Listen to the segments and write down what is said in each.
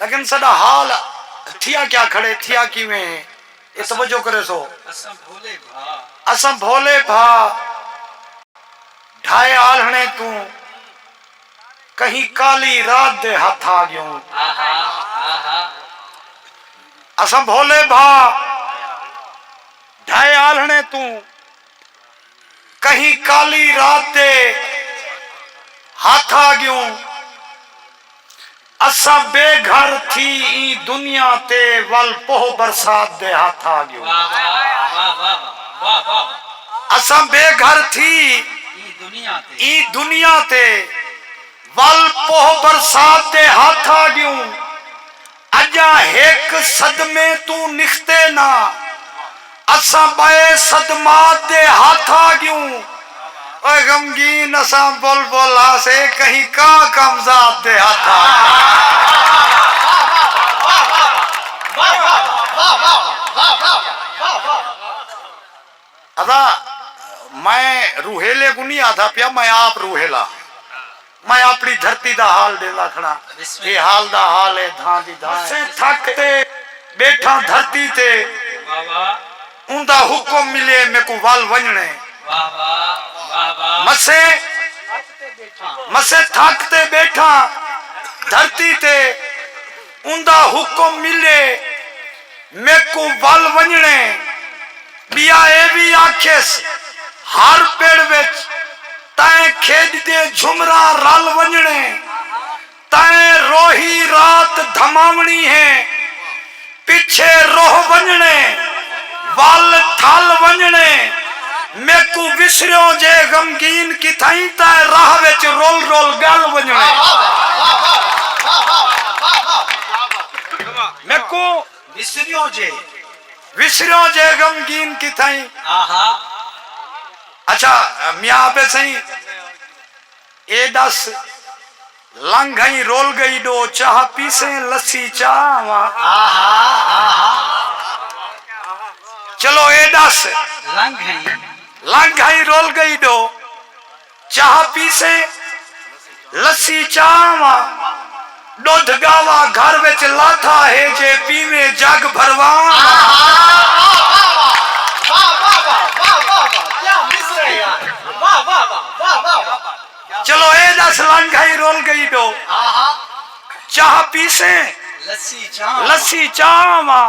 لیکن ساڈا حال تھیا کیا کھڑے تھیا کیویں ہے اے توجہ کریسو اساں بھولے بھا ڈھائے آلھنے توں کہیں کالی رات دے ہتھ آ گیوں اساں بھولے بھا ڈھائے آلھنے توں کہیں کالی رات دے ہتھ آ ڳیوں اساں بے گھر تھی ایں دنیا تے ول پوہ برسات دے ہتھ آ ڳیوں اساں بے گھر تھی ایں دنیا تے ول پوہ برسات دے ہتھ آ ڳیوں۔ اجا ہک صدمے توں نکھتے نا اساں بئے صدمات دے ہتھ آ گیوں او غمگین اساں بلبل ہاسے کہیں کا کمزاد دے ہتھ آ گیوں۔ ادا میں روہیلے کوں نی آدھا پیا میں آپ روہیلا ہاں میں اپنی دھرتی دا حال ڈیندا کھڑاں اے حال دا حال اے دھاں دی دھاں اے اسیں تھک تے بیٹھاں دھرتی تے اوندا حکم ملے میکوں ول ونجنڑے مسیں مسیں تھک تے بیٹھاں دھرتی تے اوندا حکم ملے۔ میکوں ول ونڄݨے ٻیا اے وی آکھیس ہر پڑ وچ تئیں کھیݙ دے جھمراں رل ونڄݨے تئیں روہی رات دھماوݨی ہے پچھے روہ ونڄݨے ول تھل ونڄݨے میکوں وسریوں جے غمگین کتھائیں تئیں راہ وچ رل رل ڳل ونڄݨے۔ میکوں وسریوں جے وسریوں جے غمگین کتھائیں اچھا میاں آپے سئیں اے ڈس لنگھ ائیں رول گئی ڈو چاہ پیسیں لسی چاہ آواں چلو اے ڈس لنگھ ائیں رول گئی ڈو چاہ پیسے لسی چاہ واں ڈودھ گاوا گھر وچ لاتھا ہے جے پیویں جگ بھرواں چلو اے دس لنگ گھئی رول گئی ڈو چاہ پیسے لسی چاہ واں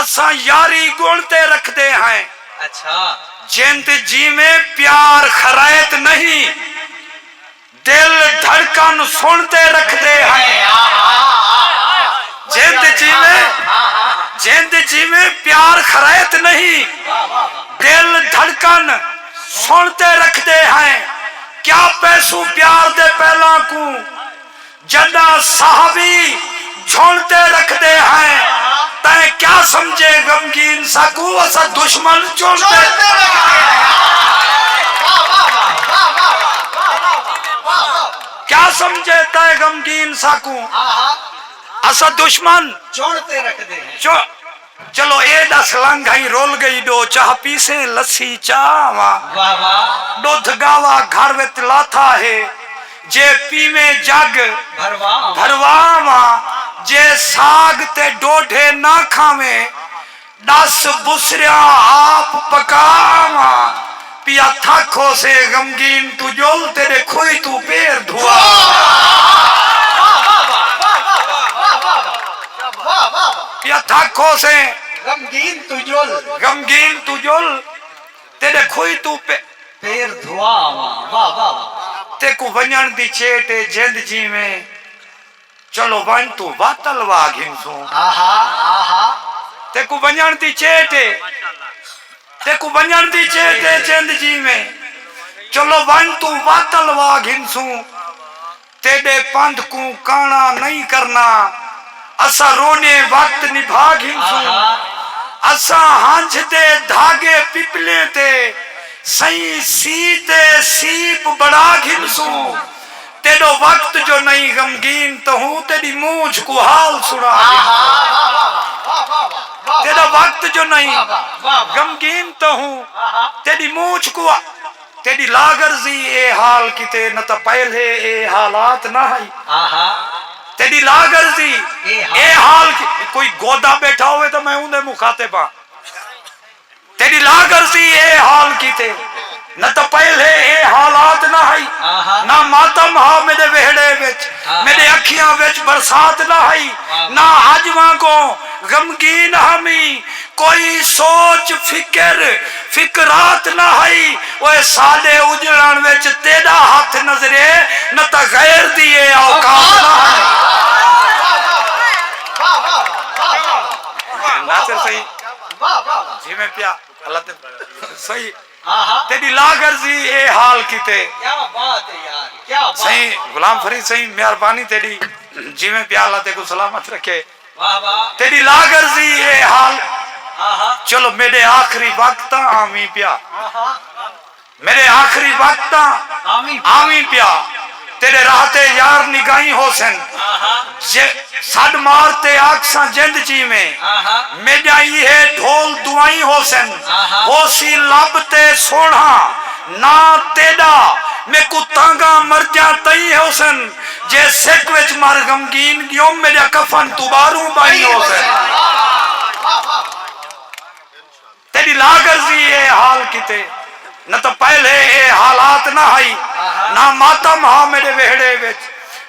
اساں یاری گنڑ تے رکھدے ہیں۔ جند جیویں پیار خرائط نہیں۔ دل دھڑکن سنڑ تے رکھدے ہیں۔ جند جیویں جند جیویں پیار خرائط نہیں۔ دل دھڑکن سنڑ تے رکھدے ہیں۔ کیا پیسوں پیار دے پیلاں کوں۔ جݙاں صحابی جھݨ تے رکھدے ہئیں تیں کیا سمجھے غمگین ساکوں اساں دشمن چݨ تے کیا سمجھے تیں غمگین ساکوں اساں دشمن چݨ تے رکھدے ہئیں۔ چلو اے ݙس لنگ ہئیں رل ڳئی ݙو چاہ پیسیں لسی چا آواں ݙدھ ڳاوا گھر وچ لاتھا ہے جے پیویں جڳ بھروا آواں جے ساڳ تے ݙوڈھے نہ کھاویں ݙس بسریاں آپ پکا آواں پیا تھک ہوسے غمگین توں جل تیڈے کھوئی توں پیر دھواپیا تھک ہوسے غمگین توں جل غمگین توں جل تیڈے کھوئی توں پیر دھواواں تیکوں ونجن دی چیٹ اے جند جیویں چلو ونج توں وت الوا گھنسوں۔ تیکوں ونجنڑ دی چیٹ اے۔ تیکوں ونجنڑ دی چیٹ اے جند جیویں۔ چلو ونج توں وت الوا گھنسوں۔ تیڈے پندھ کوں کانڑا نئیں کرنا۔ اساں روݙیں وت نبھا گھنسوں۔ اساں ہنجھ دے دھاگے پپلیں تے سئیں سی تے سیپ بݨا گھنسوں۔ تیڈو وقت جو نئیں غمگین تہوں تیڈی مونجھ کوں حال سنا ڈیندی تیڈو وقت جو نئیں غمگین تہوں تیڈی مونجھ کوں تیڈی لاغرضی اے حال کیتے نہ تاں پہلے اے حالات نہ ہئی تیڈی لاغرضی اے حال کوئی گودا بیٹھا ہووے تاں میں اوندے مخاطب ہاں۔ تیݙی لاغرضی اے حال کیتے نہ تاں پہلے اے حالات نہ ہئی نہ ماتم ہا میݙے ویہڑے وچ میݙے اکھیاں وچ برسات نہ ہئی نہ اڄ وانگوں غمگین ہامی کوئی سوچ فکر فکرات نہ ہئی اوئے ساݙے اجڑݨ وچ تیݙا ہتھ نظرے نہ تاں غیر دی اے اوقات نہ ہئی۔ جیویں پیا اللہ تے صحیح تیری لا گرزی اے حال کیتے صحیح غلام فرید صحیح مہربانی تیری جیویں پیا اللہ تے کو سلامت رکھے تیری لا گرزی اے حال چلو میرے آخری وقت آمین پیا میݙے آخری وقت تاں آویں پیا تیݙے راہ تے یار نگاہیں ہوسن جے سݙ مار تے آکھساں جند جیویں میݙیاں ایہے ڈھول دعائیں ہوسن ہوسی لب تے سوہݨا ناں تیݙا میکوں تانگاں مرجاں تئیں ہوسن جے سک وچ مر غمگین ڳیوم میݙیاں کفن توں ٻاہروں ٻائیں ہوسن۔ تیݙی لاغرضی اے حال کیتے۔ نہ تاں پہلے اے حالات نہ ہئی۔ نہ ماتم ہا میݙے ویہڑے وچ۔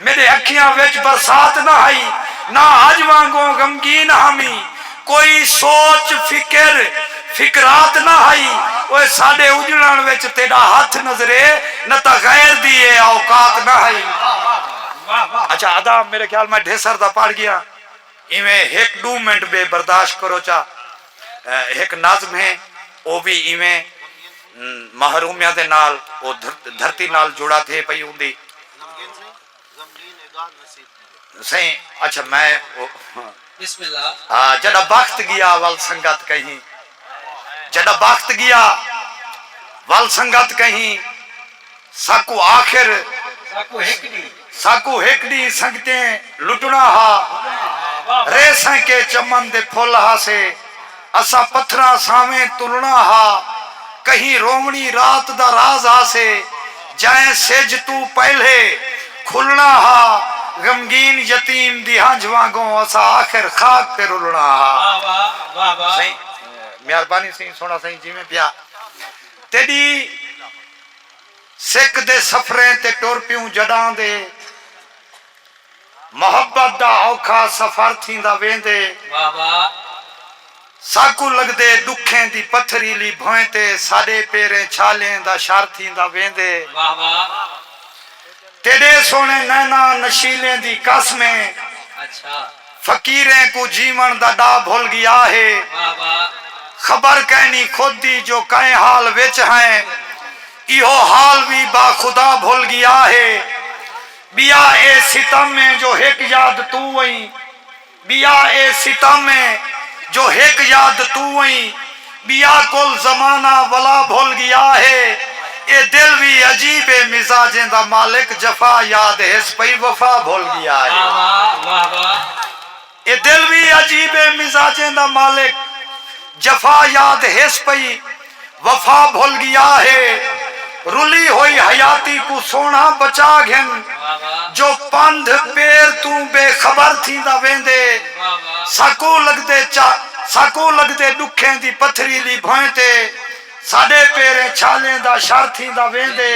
میݙے اکھیاں وچ برسات نہ ہئی۔ نہ اڄ وانگوں غمگین ہامیں۔ کوئی سوچ، فکر، فکرات نہ ہئی۔ اوئے ساݙے اجڑݨ وچ تیݙا ہتھ نظرے نہ تاں غیر دی اے اوقات نہ ہئی۔ اچھا ادا میݙے خیال میں ڈھیسر دا پڑھ ڳیاں۔ ایویں ہک ڈو منٹ بے برداشت کرو چا ہک نظم ہے او وی ایویں محرومیاں دے نال او دھرتی نال جڑا تھے پئی ہوندی سئیں اچھا میں جڈا بخت گیا ول سنگت کہیں۔ جڈا بخت گیا ول سنگت کہیں ساکوں آخر ساکوں ہک ڈی سنگتیں لٹنا ہا رے سیں کے چمن دے پھل ہا سے اساں پتھراں سانویں تلنا ہا کہیں روونی رات دا راز ہا سے جئیں سجھ توں پہلے کھلݨا ہا غمگین یتیم دی ہنجھ وانگوں اساں آخر خاک تے رلݨا ہا واہ واہ واہ واہ سئیں مہربانی سئیں سوہݨا سئیں جیویں پیا تیݙی سک دے سفریں تے ٹر پیوں جݙاں دے۔ محبت دا اوکھا سفر تھیندا ویندے ساکوں لگدے ݙکھیں دی پتھریلی بھوئیں تے ساݙے پیریں چھالیں دا شر تھیندا ویندے تیݙے سوہݨے نیناں نشیلیں دی قسمیں فقیریں کوں جیوݨ دا ݙاہ بھل ڳیا ہے خبر کائنی خود دی جو کئیں حال وچ ہئیں ایہو حال وی با خدا بھل ڳیا ہے ٻیا اے ستم اے جو ہک یاد توں ایں ٻیا اے ستم اے جو ہک یاد توں ایں ٻیا کل زمانہ ولا بھل ڳیا ہے اے دل وی عجیب اے مزاجیں دا مالک جفا یاد ہس پئی وفا بھل ڳیا ہے۔ اے دل وی عجیبیں مزاجیں دا مالک جفا یاد ہس پئی وفا بھل گیا ہے رلی ہوئی حیاتی کوں سوہنڑا بچا گھن جو پندھ پیر توں بے خبر تھیندا ویندے ساکوں لگدے چا ساکوں لگدے ڈکھیں دی پتھریلی بھوئیں تے ساڈے پیریں چھالیں دا شر تھیندا ویندے۔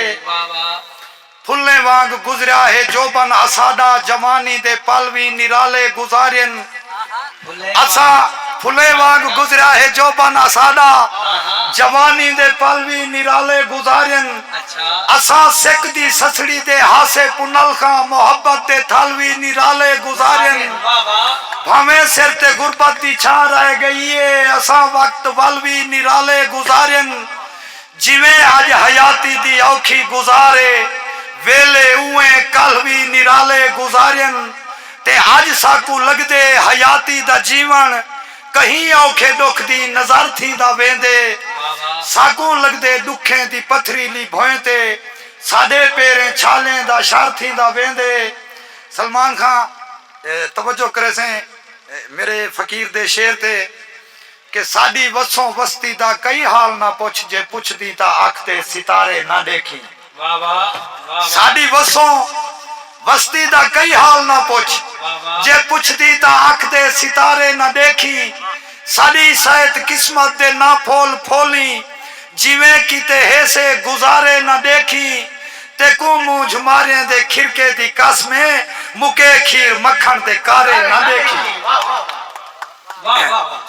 پھلیں وانگ گزریا ہے جوبن اساڈا جوانی دے پل وی نرالے گزارین اساں پھلیں وانگ گزریا ہے جوبن اساڈا جوانی دے پل وی نرالے گزارین اساں سک دی سسڑی دے ہاسے پنلخاں محبت دے تھل وی نرالے گزارین بھانویں سر تے غربت دی چھاں رہ گئی ہے اساں وقت ول وی نرالے گزارین جیویں اڄ حیاتی دی اوکھی گزار اے، ویلھے اونویں کلھ وی نرالے گزاریئن تے اڄ ساکوں لڳدے حیاتی دا جیوݨ کہیں اوکھے ݙکھ دی نذر تھیندا ویندے۔ ساکوں لڳدے ݙکھیں دی پتھریلی بھوئیں تے ساݙے پیریں چھالیں دا شر تھیندا ویندے۔ سلمان خاں توجہ کریسیں میݙے فقیر دے شعر تے۔ کہ ساݙی وسوں وستی دا کئی حال نہ پچھ جے پچھدیں تاں اکھ تے ستارے نہ ݙیکھیں۔ ساݙی وسوں وستی دا کئی حال نہ پچھ جے پچھدیں تاں اکھ تے ستارے نہ ݙیکھیں۔ ساݙی سئیت قسمت دے نہ پھول پھولیں جیویں کیتے ہیسے گزارے نہ ݙیکھیں۔ تیکوں مونجھ ماریں دے کھرکے دی قسم اے مکے کھیر مکھݨ دے کارے نہ ݙیکھیں۔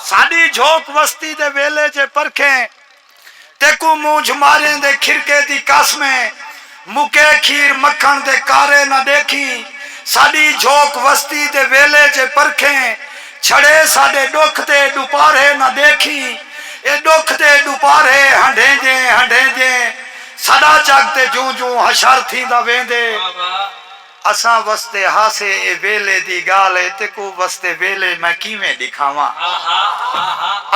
ساݙی جھوک وستی دے ویلے جے پرکھیں تیکوں مونجھ ماریں دے کھرکے دی قاسمیں مکے کھیر مکھݨ دے کارے نہ ݙیکھیں ساݙی جھوک وستی دے ویلے جے پرکھیں چھڑے ساݙے ݙکھ دے ݙوپارھے نہ ݙیکھیں اے ݙکھ دے ݙوپارھے ہنڈھیندیں ہنڈھیندیں ساݙا جڳ تے جوں جوں حشر تھیندا ویندے۔ اساں وستے ہاسے اے ویلے دی گالھ اے تیکوں وستے ویلے میں کیویں ڈکھاواں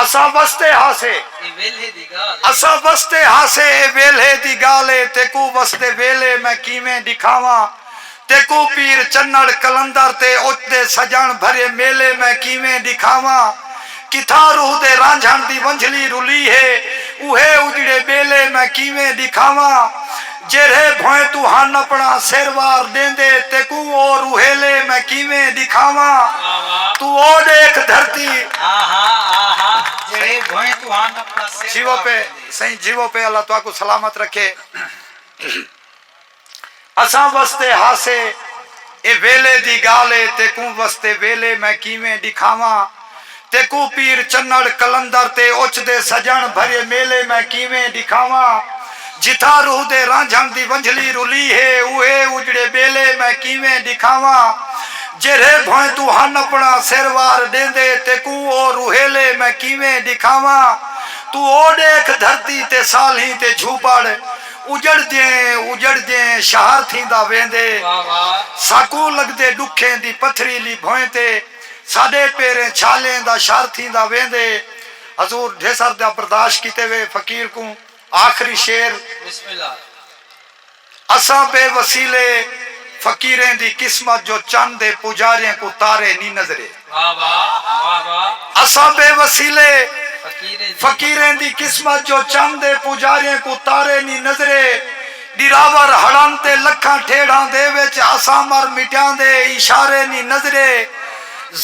اساں وستے ہاسے اے ویلھے دی گالھ اے اساں وستے ہاسے اے ویلھے دی گالھ اے تیکوں وستے ویلے میں کیویں ڈکھاواں تیکوں پیر چنڑ قلندر تے اچ دے سجنڑ بھرے میلے میں کیویں ڈکھاواں کتھاں روح دے رانجھݨ دی ونجھلی رلی ہے اوہے اجڑے ٻیلے میں کیویں ݙکھاواں جیرھے بھوئیں توں ہن اپݨا سر وار ݙیندے تیکوں او روحیلے میں کیویں ݙکھاواں توں او ݙیکھ دھرتی۔ اساں وستے ہاسے اے ویلے دی گالھ اے تیکوں وستے ویلے میں کیویں ڈکھاواں تیکوں پیر چنڑ قلندر تے اچ دے سجنڑ بھریے میلے میں کیویں ڈکھاواں جتھاں روح دے رانجھنڑ دی ونجھلی رلی ہے اوہے اجڑے بیلے میں کیویں ڈکھاواں جیرھے بھوئیں توں ہن اپنڑا سر وار ڈیندے تیکوں او روحیلے میں کیویں ڈکھاواں توں او ڈیکھ دھرتی تے سالھیں تے جھوپڑ اجڑدیں اجڑدیں شہر تھیندا ویندے۔ ساکوں لگدے ڈکھیں دی پتھریلی بھوئیں تے ساڈے پیریں چھالیں دا شہر تھیندا ویندے۔ حضور ڈھیسر دا برداشت کیتے ہوئے فقیر کوں آخری شعر۔ اساں بے وسیلے فقیریں دی قسمت جو چن دے پجاریں کوں تارے نی نظرے۔ اساں بے وسیلے فقیریں دی قسمت جو چند اے پوجاریاں کوں تارے نی نظرے ڈراور ہڑن تے لکھاں ٹھیڑھاں دے وچ اساں مر مٹیاں دے اشارے نی نظرے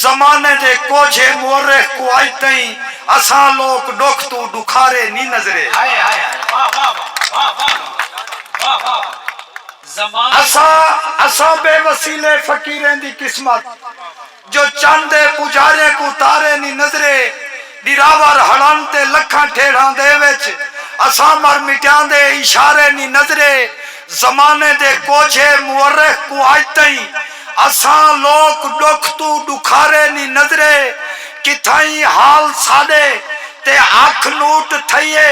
زمانے دے کوجھے مورخ کوں اج تئیں اساں لوک ڈکھ توں ڈکھارے نی نظرے اساں بے وسیلے فقیریں دی قسمت۔ جو چن دے پجاریں کوں تارے نی نظرے ڈراور ہڑن تے لکھاں ٹھیڑھاں دے وچ اسامر مٹیاں دے اشارے نی نظرے زمانے دے کوجھے مورخ کوں اج تئیں اساں لوک ڈکھ توں ڈکھارے نی نظرے کتھائیں حال ساڈے تے اکھ نوٹ تھئیے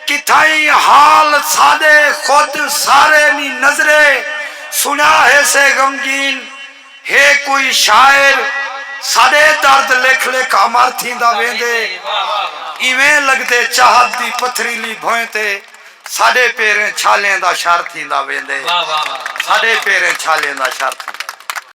کتھائیں حال ساڈے خود سارے نی نظرے سنیا ہیسے غمگین ہے کوئی شاعر ساݙے درد لکھ لکھ امر تھیندا ویندے ایویں لڳدے چاہت دی پتھریلی بھوئیں تے ساݙے پیریں چھالیں دا شر تھیندا ویندے ساݙے پیریں چھالیں دا شر تھیندا ویندے۔